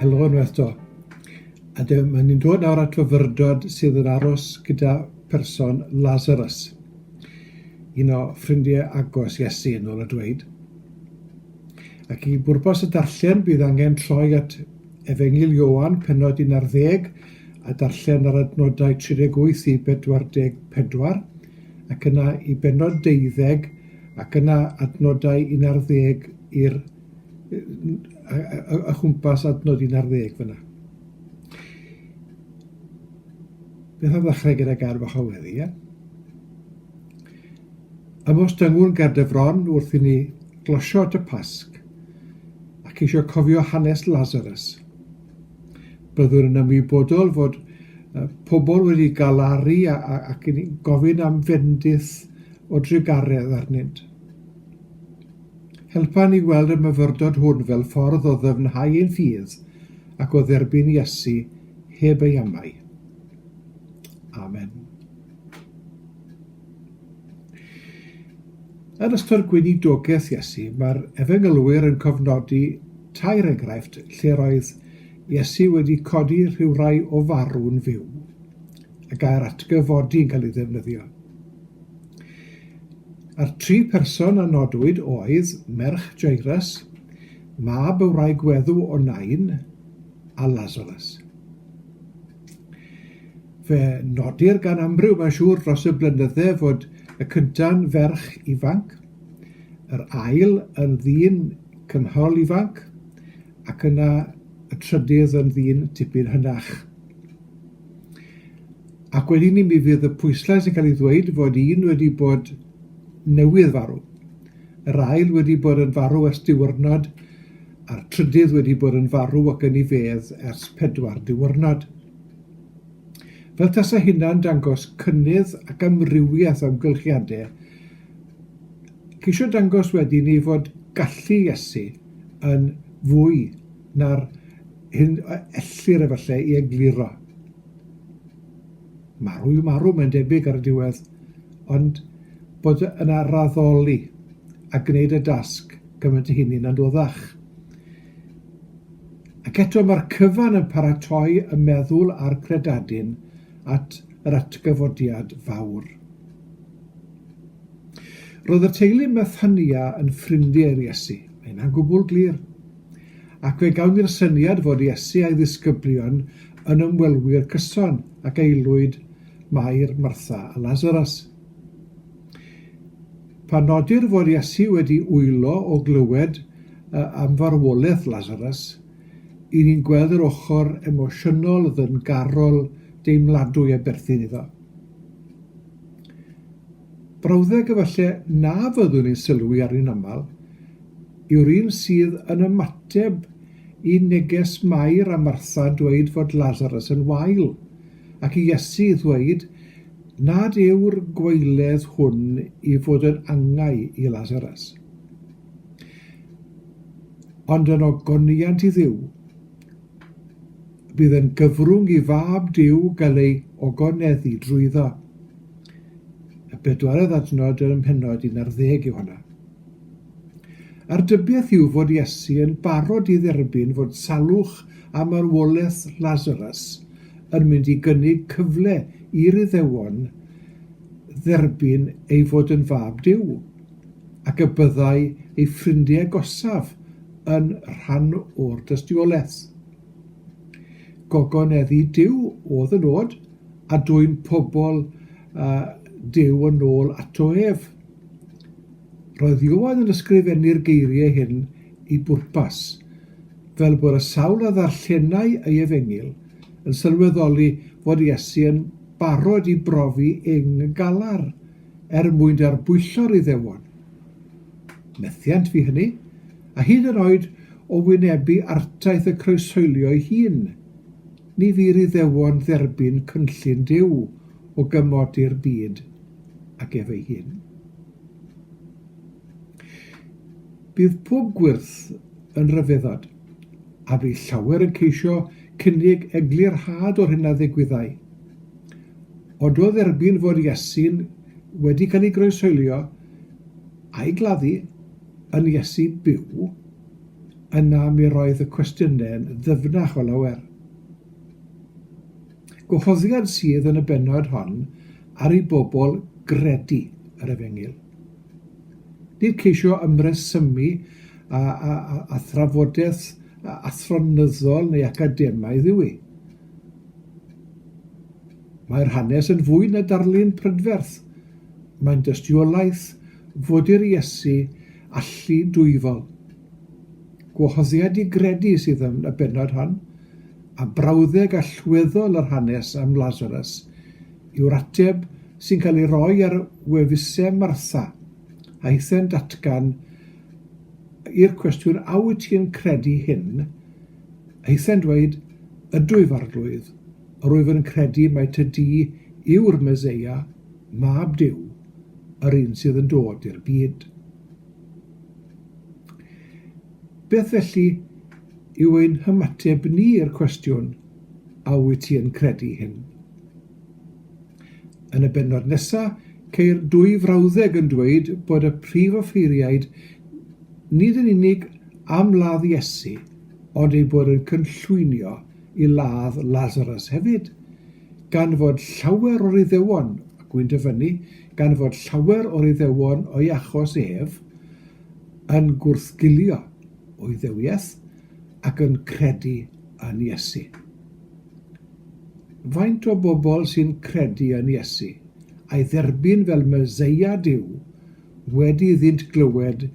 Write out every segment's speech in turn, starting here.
Helo unwaith to. A dyma ma' ni'n dod nawr at fyfyrdod sydd yn aros gyda person Lazarus, un o ffrindiau agos Iesu yn ôl y dweud. Ac i bwrpas y darllen bydd angen troi at Efengyl Ioan, pennod un ar ddeg, a darllen yr adnodau 38 i 44, ac yna i bennod deuddeg, ac yna adnodau un ar ddeg i'r yy yy o chwmpas adnod un ar ddeg fyn 'na. Beth am ddechrau gyda gair bach o weddi, ie? Am os dyngwn ger dy fron wrth i ni glosio at y Pasg, ac eisiau cofio hanes Lazarus. Byddwn yn ymwybodol fod pobl wedi galaru ac yn gofyn am fendith o drugaredd arnynt. Helpa ni weld y myfyrdod hwn fel ffordd o ddyfnhau ein ffydd ac o dderbyn Iesu heb ei amau. Amen. Yn ystod gweinidogaeth Iesu, mae'r Efengylwyr yn cofnodi tair enghraifft lle roedd Iesu wedi codi rhywrai o farw'n fyw. Y gair atgyfodi yn cael ei ddefnyddio. A'r tri person a nodwyd oedd merch Jairus, mab y wraig weddw o Nain, a Lazarus. Fe nodir gan amryw mae'n siŵr dros y blynydde fod y cynta'n ferch ifanc, yr ail yn ddyn cynhol ifanc ac yna y trydydd yn ddyn tipyn hynach. Ac wedyn ni mi fydd y pwyslais yn cael ei ddweud fod un wedi bod newydd farw. Yr ail wedi bod yn farw ers diwrnod a'r trydydd wedi bod yn farw ac yn ei fedd ers pedwar diwrnod. Fel tasa hynna'n dangos cynnydd ac amrywiaeth o amgylchiadau, ceisio dangos wedyn ei fod gallu Iesu yn fwy na'r hyn ellir efallai i egluro. marw yw marw, mae'n debyg ar y diwedd, ond bod yna raddoli a gwneud y dasg gymaint y hynny'n anoddach. Ac eto mae'r cyfan yn paratoi y meddwl a'r credadun at yr atgyfodiad fawr. Roedd y teulu Methania yn ffrindiau i'r Iesu. Mae yna'n gwbl glir. Ac fe gawn ni'r syniad fod Iesu a'i ddisgyblion yn ymwelwyr cyson ac aelwyd Mair, Martha a Lazarus. Pan nodir fod Iesu wedi wylo o glywed am farwolaeth Lazarus, i ni'n gweld yr ochr emosiynol, ddyngarol, deimladwy a berthyn iddo. Brawddeg efallai na fyddwn ni'n sylwi arni'n aml yw'r un sydd yn ymateb i neges Mair a Martha'n dweud fod Lasarus yn wael, ac i Iesu ddweud nad yw'r gwaeledd hwn i fod yn angau i Lasarus. Ond yn ogoniant i Dduw, bydd yn gyfrwng i fab Duw gael ei ogoneddu drwyddo. Y bedwaredd adnod yn mhennod 11 yw honna. A'r dybiaeth yw fod Iesu yn barod i dderbyn fod salwch a marwolaeth Lazarus yn mynd i gynnig cyfle i'r Iddewon dderbyn ei fod yn Fab Duw, ac y byddai ei ffrindiau agosaf yn rhan o'r dystiolaeth. Gogoneddi Duw oedd y nod, a dwyn pobl uh, Duw yn ôl ato ef. Roedd Iowan yn ysgrifennu'r geiriau hyn i bwrpas, fel bod y sawl a ddarllenai ei efengyl yn sylweddoli fod Iesu yn barod i brofi ing galar er mwyn darbwyllo'r Iddewon. Methiant fi hynny, a hyd yn oed o wynebu artaith y croeshoelio'i hun, ni fu'r Iddewon dderbyn cynllun Duw o gymodi'r byd ag ef ei hun. Bydd pob gwyrth yn rhyfeddod, a bydd llawer yn ceisio cynnig eglurhad o'r hyn a ddigwyddai. Ond o dderbyn fod Iesu'n wedi cael ei groeshoelio a'i gladdu, yn Iesu byw, yna mi roedd y cwestiynau'n ddyfnach o lawer. Gwahoddiad sydd yn y bennod hon ar i bobl gredu yr efengyl. Nid ceisio ymresymu a, a, a, a thrafodaeth athronyddol neu academaidd yw i. Mae'r hanes yn fwy na darlun prydferth. Mae'n dystiolaeth Fodyr Iesu allu dwyfol. Gwahoddiad i gredu sydd yn y bennod hon, a brawddeg allweddol yr hanes am Lasarus yw'r ateb sy'n cael ei roi ar wefusau Martha, aethent atgan i'r cwestiwn a wyt ti'n credu hyn? Aethent dweud, ydw i'r arglwydd, rwyf yn credu mai ty di yw'r Meseia, mab Duw. yr un sydd yn dod i'r byd. Beth felly yw ein hymateb ni i'r cwestiwn, a wyt ti yn credu hyn? Yn y benod nesaf, ceir dwy frawddeg yn dweud bod y prif offeiriaid nid yn unig am ladd Iesu, ond ei bod yn cynllwynio i ladd Lasarus hefyd, gan fod llawer o'r Iddewon, a gwy'n dyfynnu, gan fod llawer o'r Iddewon o'i achos ef, yn gwrthgilio o Iddewiaeth ac yn credu yn Iesu. Faint o bobl sy'n credu yn Iesu, a'i dderbyn fel Meseia Duw, wedi iddynt glywed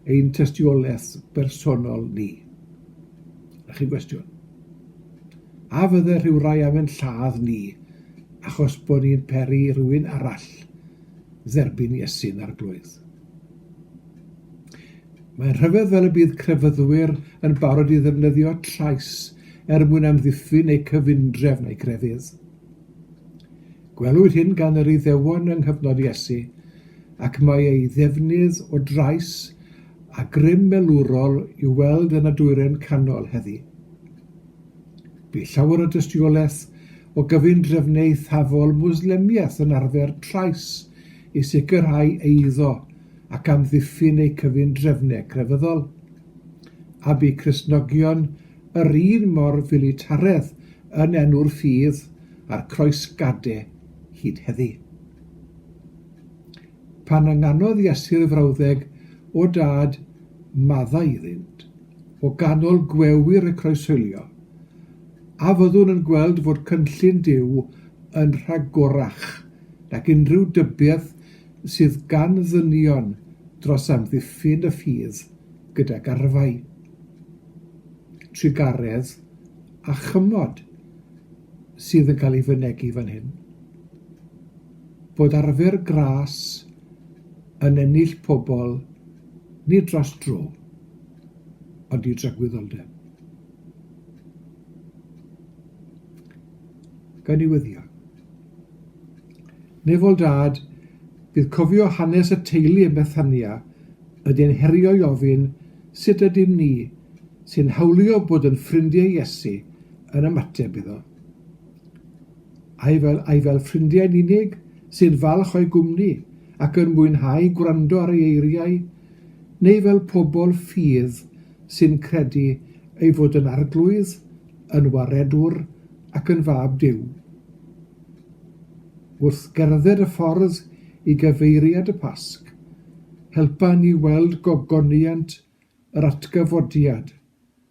ein tystiolaeth bersonol ni? A chi'n gwestiwn? A fydde rhyw rai am yn lladd ni achos bod ni'n peri i rywun arall dderbyn Iesu'n Arglwydd? Mae'n rhyfedd fel y bydd crefyddwyr yn barod i ddefnyddio llais er mwyn amddiffyn eu cyfundrefn a'i grefydd. Gwelwyd hyn gan yr Iddewon yng nghyfnod Iesu, ac mae ei ddefnydd o drais a grym melwrol i'w weld yn y Dwyrain Canol heddi. Bu llawer o dystiolaeth o gyfundrefn eithafol Mwslemiaeth yn arfer trais i sicrhau eiddo ac amddiffyn eu cyfundrefnau crefyddol, a bu Cristnogion yr un mor filitaredd yn enw'r ffydd a'r croesgade hyd heddi. Pan ynganodd Iesu'r frawddeg o dad maddau iddynt, o ganol gwewyr y croeshoelio, a fyddwn yn gweld fod cynllun Duw yn rhagorach nag unrhyw dybiaeth sydd gan ddynion dros amddiffyn y ffydd gydag arfau, trugaredd a chymod sydd yn cael ei fynegi fan hyn. bod arfer gras yn ennill pobl nid dros dro, ond i dragwyddoldeb. Gawn ni wyddio. Nefol dad, bydd cofio hanes y teulu yn Bethania ydy'n herio i ofyn sut ydym ni sy'n hawlio bod yn ffrindiau Iesu yn ymateb iddo. Ai fel, ai fel ffrindiau'n unig sy'n falch o'i gwmni ac yn mwynhau gwrando ar ei eiriau, neu fel pobl ffydd sy'n credu ei fod yn arglwydd, yn waredwr ac yn fab Duw? Wrth gerdded y ffordd i gyfeiriad y Pasg, helpa ni weld gogoniant yr atgyfodiad,